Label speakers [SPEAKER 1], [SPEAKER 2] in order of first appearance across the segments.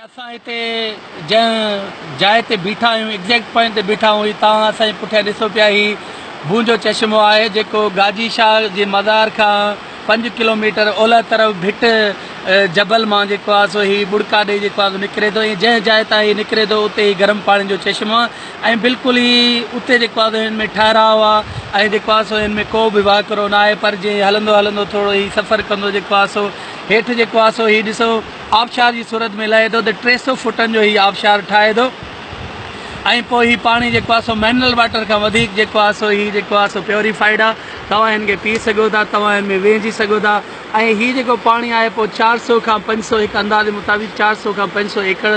[SPEAKER 1] اسان هتي جنهن جاء تي بيٺا آهيون ايگزيڪٽ پوائنٽ تي بيٺا آهيون هي توهان اسان جي پٺيان ڏسو پيا هي بون جو چشمو آهي جيڪو گاجي شاهه جي مزار کان پنج ڪلوميٽر اولهه طرف ڀٽ جبل مان جيڪو آهي سو هي ٻڙڪا ڏيئي جيڪو آهي سو نڪري ٿو ۽ جنهن جاء تان هي نڪري ٿو اتي هي گرم پاڻي جو چشمو ۽ بلڪل ئي اتي جيڪو آهي سو هن ۾ ٺهراء آهي ۽ جيڪو آهي سو هن ۾ ڪو به واڪرو نه آهي پر جيئن هلندو هلندو ٿورو هي سفر ڪندو جيڪو آهي سو هيٺ جيڪو آهي سو هي ڏسو آبشار جي صورت ۾ لهي ٿو ته ٽي سو فوٽن جو هي آبشار ٺاهي ٿو ۽ پوء هي پاڻي جيڪو آهي سو منرل واٽر کان وڌيڪ جيڪو آهي سو هي جيڪو آهي سو پيوريفائيڊ آهي توهان هن کي پي سگهو ٿا توهان هن ۾ ويهجي سگهو ٿا ۽ هي جيڪو پاڻي آهي پوء چار سو کان پنج سو هڪ اندازي مطابق چار سو کان پنج سو ايڪڙ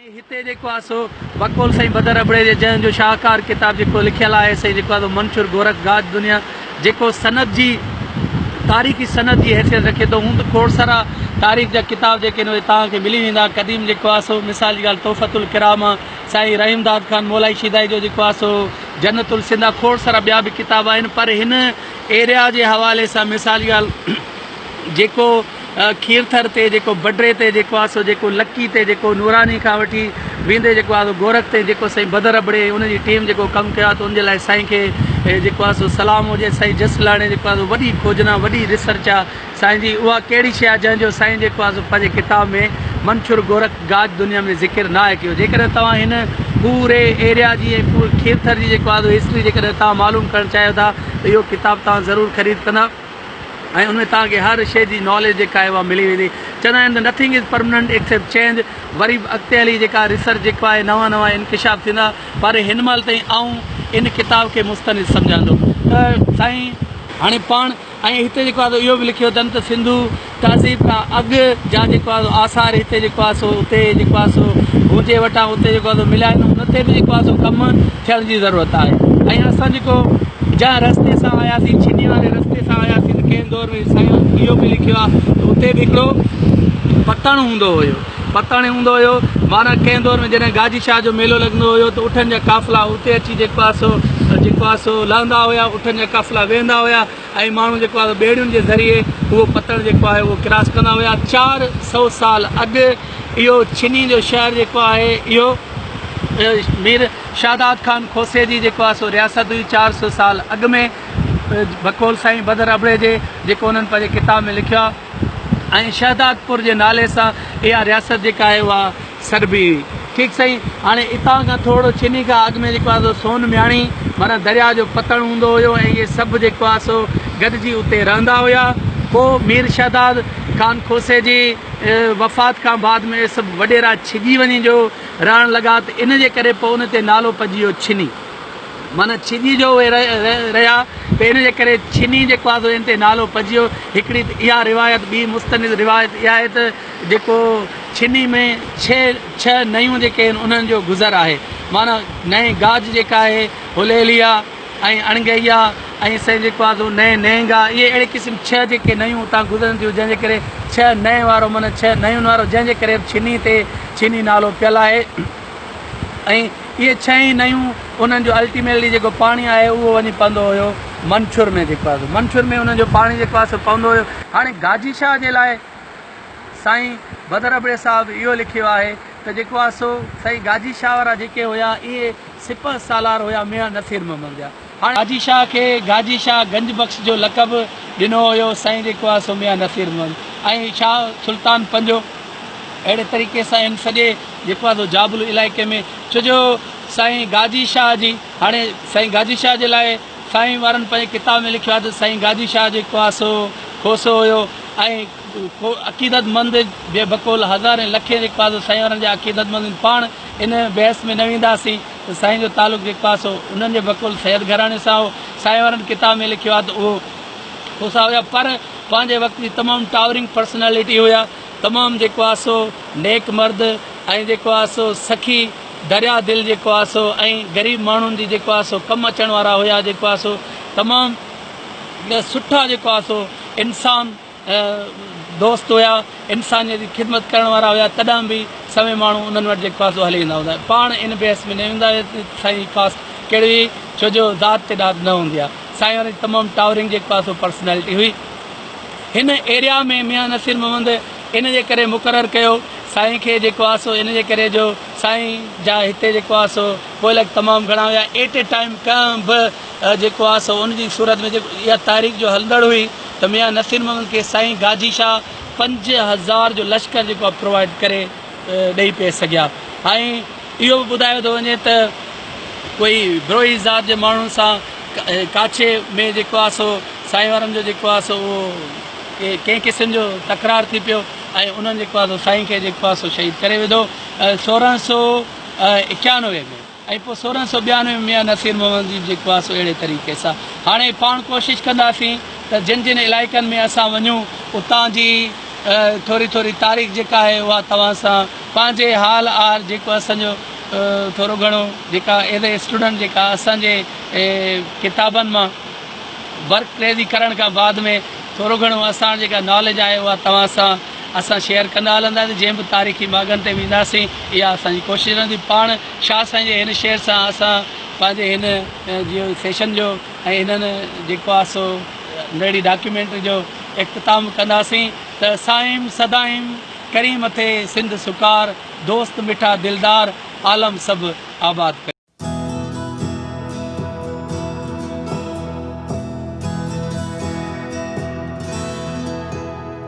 [SPEAKER 1] ۽ هتي جيڪو آهي سو بقول سائين بدر ابڙي جي جنهن جو شاهڪار ڪتاب جيڪو لکيل آهي سائين جيڪو آهي سو منشور گورک گاج دنيا جيڪو سند جي تاريخي سند جي حيثيت رکي ٿو هوند کوڙ سارا تاريخ جا ڪتاب جيڪي آهن اهي توهان کي ملي ويندا قديم جيڪو آهي سو مثال جي ڳالهه تحفت الڪرام سائين رحيم داد خان مولائي شيدائي جو جيڪو آهي سو جنت السنڌ آهي کوڙ سارا ٻيا به ڪتاب آهن پر هن ايريا جي حوالي سان مثال ڳالهه جيڪو کيرٿر تي جيڪو بڊري تي جيڪو آهي سو جيڪو لڪي تي جيڪو نوراني کان وٺي ويندي جيڪو آهي سو گورک تي جيڪو سائين بدر ابڙي ان جي ٽيم جيڪو ڪم ڪيو آهي ته ان جي لاء سائين کي جيڪو آهي سو سلام هجي سائين جس لاڙي جيڪو آهي سو وڏي کوجنا وڏي ريسرچ آهي سائين جي اها ڪهڙي شيء آهي جنهن جو سائين جيڪو آهي سو پنهنجي ڪتاب ۾ منڇر گورک گاج دنيا ۾ ذڪر نه آهي ڪيو جيڪڏهن توهان هن پوري ايريا جي ۽ پوري کيرٿر جي جيڪو آهي سو هسٽري جيڪڏهن توهان معلوم ڪرڻ چاهيو ٿا ته اهو ڪتاب توهان ضرور خريد ڪندا ۽ ان ۾ توهان کي هر شيء جي ناليج جيڪا آهي اها ملي ويندي چوندا آهن ته nothing is permanent except change وري به اڳتي هلي جيڪا ريسرچ جيڪو آهي نوان نوان انڪشاف ٿيندا پر هن مهل تائين آئون ان ڪتاب کي مستند سمجهان ٿو ته سائين هاڻي پاڻ ۽ هتي جيڪو آهي اهو به لکيو اٿن ته سنڌو تهذيب کان اڳ جا جيڪو آهي آثار هتي جيڪو آهي سو اتي جيڪو آهي سو هونجي وٽان اتي جيڪو آهي سو مليا آهن ان تي به جيڪو آهي سو ڪم ٿيڻ جي ضرورت آهي ۽ اسان جيڪو جنهن رستي سان آياسين ڇني واري رستي سان آياسين ڪنهن دور ۾ سائين اهو به لکيو آهي ته اتي به هڪڙو پتڻ هوندو هيو پتاڻي هوندو هيو. معنيٰ ڪنهن دور ۾ جڏهن گاجي شاهه جو ميلو لڳندو هيو ته اٺن جا قافلا اتي اچي جيڪو آهي سو جيڪو آهي سو لهندا هيا اٺن جا قافلا ويهندا هيا ۽ ماڻهو جيڪو آهي ٻيڙين جي ذريعي اهو پتڻ جيڪو آهي اهو ڪراس ڪندا هيا چار سؤ سال اڳ اهو ڇني جو شهر جيڪو آهي اهو مير شهداد خان کوسي جي جيڪو آهي سو رياست هئي چار سؤ سال اڳ ۾ بقول سائين بدر ابڙي جي جيڪو انهن پنهنجي ڪتاب ۾ لکيو آهي ۽ شهدادپور جي نالي سان اها رياست جيڪا آهي اها سڏبي هئي ٺيڪ سائين هاڻي اتان کان ٿورڙو چني کان اڳ ۾ جيڪو آهي سو سون مياڻي معنيٰ درياء جو پتڻ هوندو هيو ۽ اهي سڀ جيڪو آهي سو گڏجي اتي رهندا هيا پوء مير شهداد خان کوسي جي وفات کان بعد ۾ اهي سڀ وڏيرا ڇڄي وڃي جو رهڻ لڳا ته ان جي ڪري پوء ان تي نالو پئجي ويو ڇني. معنيٰ ڇڄي جو اهي رهيا ته ان جي ڪري ڇني جيڪو آهي سو ان تي نالو پئجيو. هڪڙي ته اها روايت ٻي مستند روايت اها آهي ته جيڪو ڇني ۾ ڇهه ڇهه نئيون جيڪي آهن انهن جو گذر آهي معنيٰ نئين گاج جيڪا آهي هليليا ۽ اڻگهيا ۽ سائين جيڪو آهي سو نئين نئنگا اهي اهڙي قسم ڇهه جيڪي نئيون اتان گذرن ٿيون جنهن جي ڪري ڇهه نئين وارو معنيٰ ڇهه نئين وارو جنهن جي ڪري ڇني تي ڇني نالو پيل آهي ۽ اهي ڇهه ئي نيون انهن جو الٽيميٽلي جيڪو پاڻي آهي اهو وڃي پوندو هيو منڇور ۾ جيڪو آهي سو منڇور ۾ انهن جو پاڻي جيڪو آهي سو پوندو هيو. هاڻي گاجي شاهه جي لاء سائين بدر ابڙي صاحب اهو لکيو آهي ته جيڪو آهي سو سائين گاجي شاهه وارا جيڪي هيا اهي سپهه سالار هيا ميان نصير محمد جا. هاڻ حاجي شاهه کي گاجي شاهه گنج بخش جو لقب ڏنو ويو سائين جيڪو آهي سو ميان نصير محمد ۽ شاهه سلطان پنجو اهڙي طريقي سان هن سڄي جيڪو آهي سو جابلو علائقي ۾ ڇو جو سائين گاجي شاهه جي هاڻي سائين گاجي شاهه جي لاء سائين وارن پنهنجي ڪتاب ۾ لکيو آهي ته سائين گاجي شاهه جيڪو آهي سو کوسو هيو ۽ ڪو عقيدت مند بي بقول هزارين لکين هڪ پاسو سائين وارن جا عقيدت مند هن پاڻ ان بحث ۾ نه وينداسين ته سائين جو تعلق هڪ پاسو انهن جي بقول سيد گهراڻي سان هو سائين وارن ڪتاب ۾ لکيو آهي ته اهو کوسا هيا پر پنهنجي وقت جي تمام ٽاورنگ پرسنالٽي هيا تمام جيڪو آهي سو نيڪ مرد ۽ جيڪو آهي سو سخي دريا دل جيڪو آهي سو ۽ غريب ماڻهن جي جيڪو آهي سو ڪم اچڻ وارا هيا جيڪو آهي سو تمام سٺا جيڪو آهي سو انسان دوست هيا انسانيت جي خدمت ڪرڻ وارا هيا تڏهن به سوين ماڻهو انهن وٽ جيڪو آسو هلي ايندا هوندا هيا پاڻ ان بحث ۾ نه ايندا هيا ته سائين جي ڪاسٽ ڪهڙي هئي ڇو جو ذات تي ڏات نه هوندي آهي سائين وارن جي تمام ٽاورنگ جيڪو آسو پرسنالٽي هئي هن ايريا ۾ ميان نصير محمد ان جي ڪري مقرر ڪيو سائين کي جيڪو آسو ان جي ڪري جو سائين جا هتي جيڪو آسو ڪوئلڪ تمام گهڻا هيا ايٽ اي ٽائيم ڪنهن به جيڪو آ سو ان جي صورت ۾ جيڪو اها تحريڪ جو هلندڙ هئي ته ميان نصير محمد کي سائين گاجي شاهه پنج هزار جو لشڪر جيڪو آ پرووائيڊ ڪري ڏئي پئي سگهيا ۽ اهو به ٻڌايو ٿو وڃي ته ڪوئي بروهي ذات جي ماڻهن سان ڪاڇي ۾ جيڪو آ سو سائين وارن جو جيڪو آ سو اهو ڪنهن قسم جو تڪرار ٿي پيو ۽ انهن جيڪو آ سو سائين کي جيڪو آ سو شهيد ڪري وڌو سورهن سو اڪيانوي ۾ ۽ پوء سورهن سؤ ٻيانوي ۾ ميان نصير محمد جي جي ڪواسو اهڙي طريقي سان هاڻي پاڻ ڪوشش ڪنداسين ته جن جن علائقن ۾ اسان وڃون اتان جي ٿوري ٿوري تاريخ جيڪا آهي اها توهان سان پنهنجي حال آهر جيڪو اسان جو ٿورو گهڻو جيڪا ايز اي اسٽوڊنٽ جيڪا اسان جي ڪتابن مان ورڪ ڪريزي ڪرڻ کان بعد ۾ ٿورو گهڻو اسان جيڪا ناليج آهي اها توهان سان اسان شيئر ڪندا هلنداسين جنهن به تاريخي ماڳن تي وينداسين اها اسان جي ڪوشش رهندي پاڻ شاهه سائين جي هن شعر سان اسان پنهنجي هن جي سيشن جو ۽ هنن جيڪو آهي سو نڙي ڊاڪيومينٽري جو اختتام ڪنداسين ته سائيم سدائيم ڪرين مٿي سنڌ سڪار دوست مٺا دلدار عالم سڀ آباد ڪرين.